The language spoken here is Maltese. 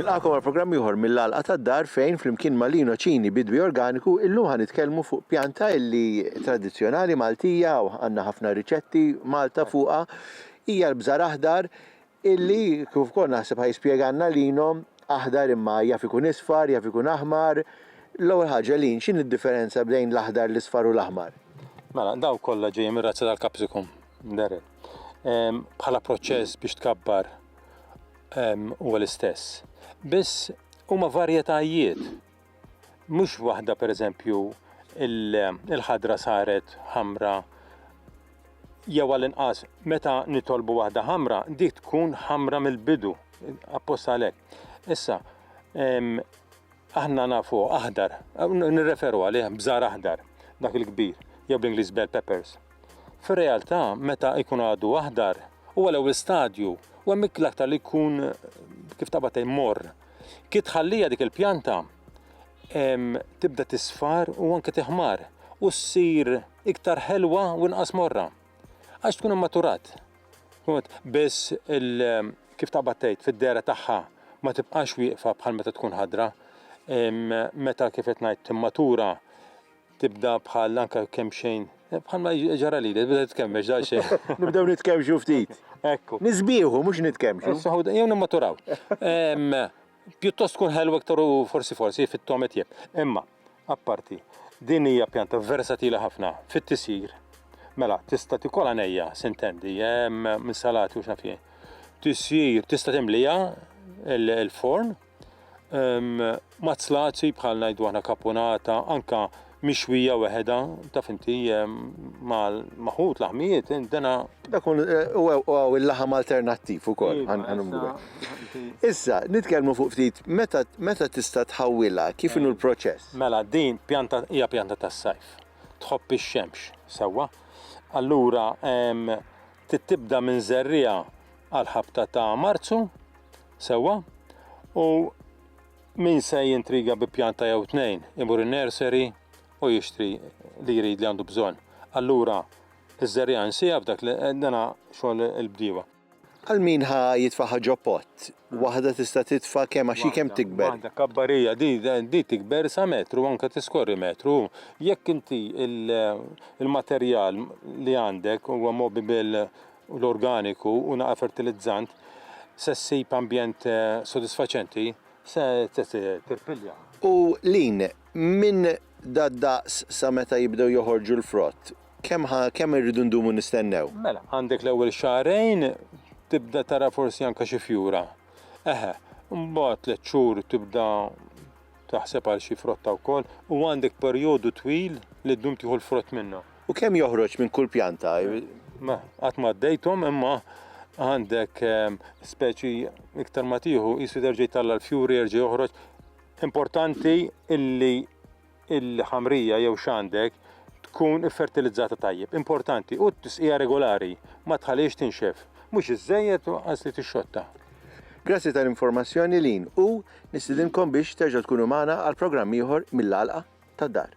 Nilqakom għal programm ieħor mill-għalqa tad-dar fejn flimkien ma' Lino Ċini Bidwi Organiku illum ħan nitkellmu fuq pjanta illi tradizzjonali Maltija u għandna ħafna riċetti Malta fuqha hija l-bżar aħdar Illi, kif ukoll naħseb ħa jispjegalna l-Ino, aħdar imma jaf ikun isfar, jaf ikun aħmar. L-ewwel ħaġa, l-Ino, x'inhi d-differenza bejn l-aħdar, l-isfar u l-aħmar? Mela, dawn kollha ġejjin mir-razza tal-capsicum, Darrel. Bħala proċess biex tkabbar huwa l-istess. Biss huma varjetajiet Mhux waħda pereżempju il-ħadra saret ħamra jew għall-inqas meta nitolbu waħda ħamra dik tkun ħamra mill-bidu apposta għalhekk. Issa aħna nafu aħdar, nirreferu għalih bżar aħdar, dak il-kbir, jew bl-Ingliż bell peppers. Fir-realtà meta jkun għadu aħdar huwa l-ewwel stadju u hemm l-aktar li jkun kif taqbad mor Kif tħallija dik il-pjanta tibda tisfar u anke tiħmar u ssir iktar ħelwa u inqas morra. Għax tkun immaturat. Biss kif taqbad tgħid fid-dera tagħha ma tibqax wieqfa bħal meta tkun ħadra. Meta kif qed ngħid timmatura tibda bħal anka kemm xejn. Bħal ma ġara li, tibda titkemmex da xejn. Nibdew nitkemmxu ftit. Ekku. Nisbieħu, mhux nitkemmxu. Jew nimmaturaw. Pjuttost tkun ħelwa iktar u forsi forsi fit-tomet jeb. Imma, apparti, din hija pjanta versatila ħafna fit-tisjir. Mela, tista' tikol għanejja, sintendi, minn salati u xnafie. Tisjir, tista' timlija il-forn, Mazzlati bħal ngħidu aħna kapunata, anka mixwija weħeda, taf inti maħut laħmijiet, dena. Dak u il-laħam alternattiv ukoll. Issa, nitkellmu fuq ftit meta tista' tħawwilha, kif inhu l-proċess? Mela, din pjanta hija pjanta tas-sajf. Tħobb ix-xemx, sewwa. Allura, Trid tibda minn żerriegħa għal ħabta ta' Marzu, sewwa, u min se jintriga bi pjanta jew tnejn imur in-nursery u jixtri li jrid li għandu bżonn. Allura iż-żerriegħa nsiha f'dak li dana xogħol il-bdiewa. Għal min ħa jitfaħħa ġo pott, Waħda tista' titfa' kemm għax hi kemm tikber. Waħda kabbar hija di di tikber sa metru anke tiskorri metru. Jekk inti il-materjal li għandek huwa mobibil u l-organiku u naqra fertilizzant se ssib ambjent sodisfaċenti se tirpilja. U Lynn, minn Dad-daqs sa meta jibdew joħorġu l-frott? Kemm ħa, kemm irridu ndumu nistennew? Mela, għandek l-ewwel xahrejn tibda tara forsi anke xi fjura. Eħe, imbagħad tliet xhur tibda taħseb għal xi frotta wkoll u għandek perjodu twil li ddum tieħu l-frott minnha. U kemm joħroġ minn kull pjanta? Ma, qatt ma għaddejthom imma għandek speċi iktar ma tieħu qisu terġa' jtalla' l-fjuri jerġa' joħroġ Importanti illi il-ħamrija jew xandek tkun fertilizzata tajjeb. Importanti u t-tisqija regolari ma tħaliex tinxef. Mhux iżejjed u qas li tixxotta. Grazzi tal-informazzjoni Lin u nistidinkom biex terġgħu tkunu magħna għal programm ieħor mill-għalqa tad-dar.